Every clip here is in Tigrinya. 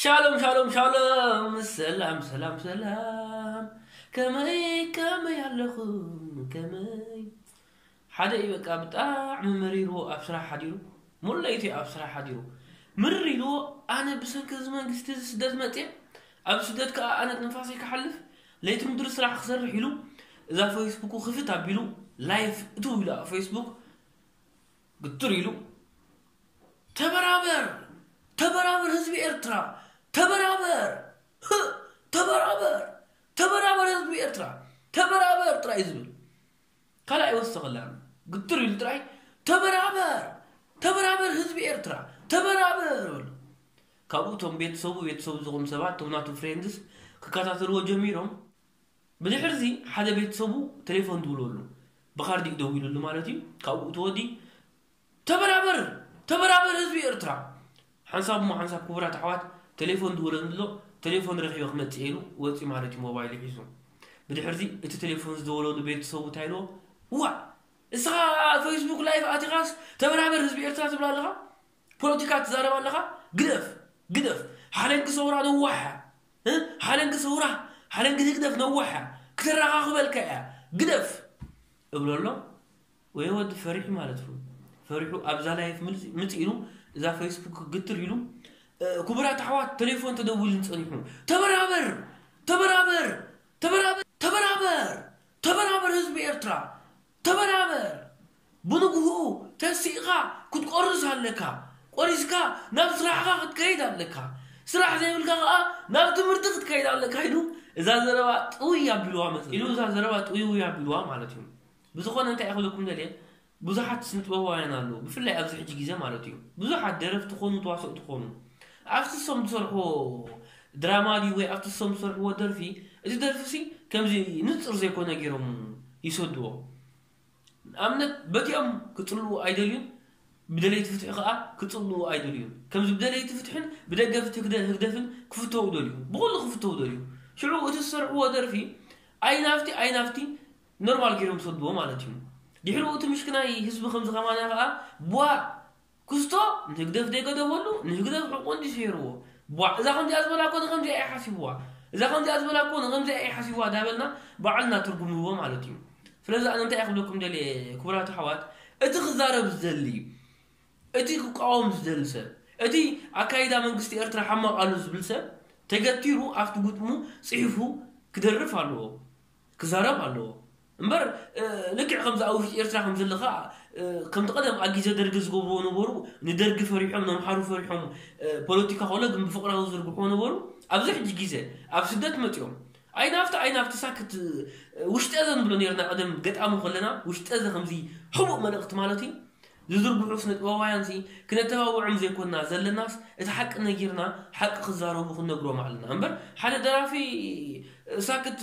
ሻሎም ሻሎም ሻሎም ሰላም ሰላም ሰላም ከመይ ከመይ ኣለኹም ከመይ ሓደ እዩ በቃ ብጣዕሚ መሪርዎ ኣብ ስራሕ ሓዲሩ ሙሉ ለይቲ ኣብ ስራሕ ሓዲሩ ምርር ኢልዎ ኣነ ብሰንኪ እዚ መንግስቲ እዚ ስደት መፅየ ኣብ ስደት ከዓ ኣነ ትንፋሰይ ክሓልፍ ለይቲ ምድሪ ስራሕ ክሰርሕ ኢሉ እዛ ፈይስቡኩ ክፍት ኣቢሉ ላይፍ እትው ኢሉ ኣብ ፈይስቡክ ግትር ኢሉ ተበራበር ተበራበር ህዝቢ ኤርትራ ተበራበር ተበራበር ተበራበር ህዝቢ ኤርትራ ተበራበር ጥራይ ዝብል ካልኣ ይወሰኸላን ግትር ኢሉ ጥራይ ተበራበር ተበራበር ህዝቢ ኤርትራ ተበራበር በሉ ካብኡ እቶም ቤተሰቡ ቤተሰቡ ዝኹም ሰባት እቶም ናቱ ፍሬንድስ ክከታተልዎ ጀሚሮም ብድሕርዚ ሓደ ቤተሰቡ ቴሌፎን ትብለሉ ብካርዲኡ ደዊሉሉ ማለት እዩ ካብኡ ተወዲ ተበራበር ተበራበር ህዝቢ ኤርትራ ሓንሳብ እሞ ሓንሳብ ክቡራት ኣሕዋት ቴሌፎን ድውለኒ ኣሎ ቴሌፎን ረኺበ ክመጽእ እየ ኢሉ ወጺ ማለት እዩ ሞባይሉ ሒዙ ብድሕርዚ እቲ ቴሌፎን ዝደወለሉ ቤተሰቡ እንታይ ኢልዎ ዋእ እስኻ ፌስቡክ ላይፍ ኣቲኻስ ተበራበር ህዝቢ ኤርትራ ትብላ ኣለኻ ፖለቲካ ትዛረብ ኣለኻ ግደፍ ግደፍ ሓለንጊ ሰውራ ነዋሕ እያ እ ሓለንጊ ሰውራ ሓለንጊ ህግደፍ ነዋሕ እያ ክተራኻኽበልካ እያ ግደፍ እብሎ ኣሎ ወይ ወዲ ፈሪሑ ማለት እዩ ፈሪሑ ኣብዛ ላይፍ ምፅ ኢሉ እዛ ፌስቡክ ግትር ኢሉ ክቡራት ኣሕዋት ቴሌፎን ተደዊልን ፀኒሑ ተበራበር ተበራበር ተበራበር ተበራበር ተበራበር ህዝቢ ኤርትራ ተበራበር! ብንግሁኡ ተሲእኻ ክትቆርስ ኣለካ። ቆሪስካ ናብ ስራሕኻ ክትከይድ ኣለካ። ስራሕ ዘይብልካ ከኣ ናብ ትምህርቲ ክትከይድ ኣለካ ኢሉ እዛ ዘረባ ጥውይ ኣቢሉዋ መጸ። ኢሉ እዛ ዘረባ ጥውይውይ ኣቢሉዋ ማለት እዩ። ብዝኾነ እንታይ እየ ክብለኩም ደልየ ብዙሓት ስነጥበባውያን ኣለዉ ብፍላይ ኣብዚ ሕጂ ግዜ ማለት እዩ ብዙሓት ደረፍቲ ኮኑ ተዋሰእቲ ኮኑ ኣብቲ እሶም ዝሰርሕዎ ድራማ ድዩ ወይ ኣብቲ እሶም ዝሰርሕዎ ደርፊ እዚ ደርፊሲ ከምዚ ንጹር ዘይኮነ ጌሮም ይሰድዎ ንኣብነት በቲኦም ክጽልኡ ኣይደልዩን ብደለይቲ ፍትሒ ከኣ ክጽልኡ ኣይደልዩን ከምዚ ብደለይቲ ፍትሕን ብደገፍቲ ህግደፍን ክፍተዉ ደልዩ ብኹሉ ክፍተዉ ደልዩ ሽዑ እቲ ዝሰርሕዎ ደርፊ ኣይናብቲ ኣይናብቲ ኖርማል ጌሮም ይሰድዎ ማለት እዩ ድሕሩ እቲ ምሽክናይ ህዝቢ ከምዚ ከማና ከኣ ቧእ ክስቶ ንህግደፍ ደይገደፈሉ ንህግደፍ ሕቁ እንድዩ ሲሒርዎ ቧዕ እዛ ከምዚኣ ዝበላ እኮ ንከምዚኣ ኢዩ ሓሲብዋ እዛ ከምዚኣ ዝበላ እኮ ንከምዚኣ ኢዩ ሓሲብዋ ዳበልና ባዕልና ትርጉም ንህቦ ማለት ኢዩ ስለዚ ኣነ እንታይ ክብለኩም ደልየ ክቡራት ኣሕዋት እቲ ክዛረብ ዝደሊ እቲ ክቃወም ዝደሊ ሰብ እቲ ኣካይዳ መንግስቲ ኤርትራ ሓማቅ ኣሎ ዝብል ሰብ ተገቲሩ ኣብቲ ግጥሙ ጺሑፉ ክደርፍ ኣለዎ ክዛረብ ኣለዎ እምበር ልክዕ ከምዚ ኣብ ውሽጢ ኤርትራ ከም ዘሎ ከኣ ከምቲ ቀደም ኣብ ግዜ ደርጊ ዝገብርዎ ነበሩ ንደርጊ ፈሪሖም ነምሓሩ ፈሪሖም ፖለቲካ ኮሎ ግን ብፍቅራዊ ዝዝርግሕዎ ነበሩ ኣብዚ ሕጂ ግዜ ኣብ ስደት መጺኦም ኣይ ናብቲ ኣይ ናብቲ ሳክት ውሽጠዘ ንብሎ ኔርና ቀደም ገጣሚ ኮለና ውሽጠዘ ከምዚ ሕቡእ መልእክቲ ማለት እዩ ዝዝርግሑ ስነጥበባውያንሲ ክነተባብዖም ዘይኮና ዘለናስ እቲ ሓቂ ነጊርና ሓቂ ክዛረቡ ክንነግሮም ኣለና እምበር ሓደ ደራፊ ሳክት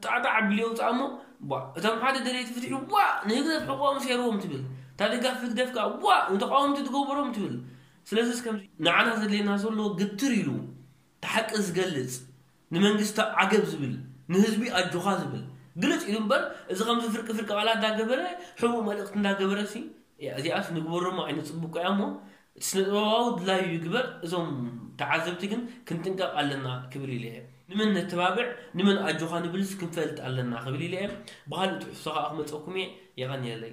ጣዕ ጣዕ ኣቢሉ የውጽኣ እሞ ቧእ እቶም ሓደ ደለይቲ ፍትሒ ቧእ ንህግደፍ ሕቖኦም ሴርዎም ትብል እታ ደጋፊት ህግደፍ ከኣ ቧእ ንተቓወምቲ ትገበሮም ትብል ስለዝስ ከምዚ ንዓና ዘድልየና ዘሎ ግትር ኢሉ እቲ ሓቂ ዝገልጽ ንመንግስቲ ዓገብ ዝብል ንህዝቢ ኣጆኻ ዝብል ግልጽ ኢሉ እምበር እዚ ከምዚ ፍርቂ ፍርቂ ቃላት እንዳገበረ ሕቡእ መልእኽቲ እንዳገበረሲ እዚኣስ ንግበሮሞ ኣይነጽብቆ ኢያ እሞ እቲ ስነጥበባዊ ድላዩ ይግበር እዞም ተዓዘብቲ ግን ክንጥንቀቕ ኣለና ክብል ኢለ ንመን ነተባብዕ ንመን ኣጆኻ ንብልስ ክንፈልጥ ኣለና ክብል ኢለ ኢየ ብኻልእ ትሕዝቶ ከኣ ክመጸኩም ኢየ የቐንየለይ።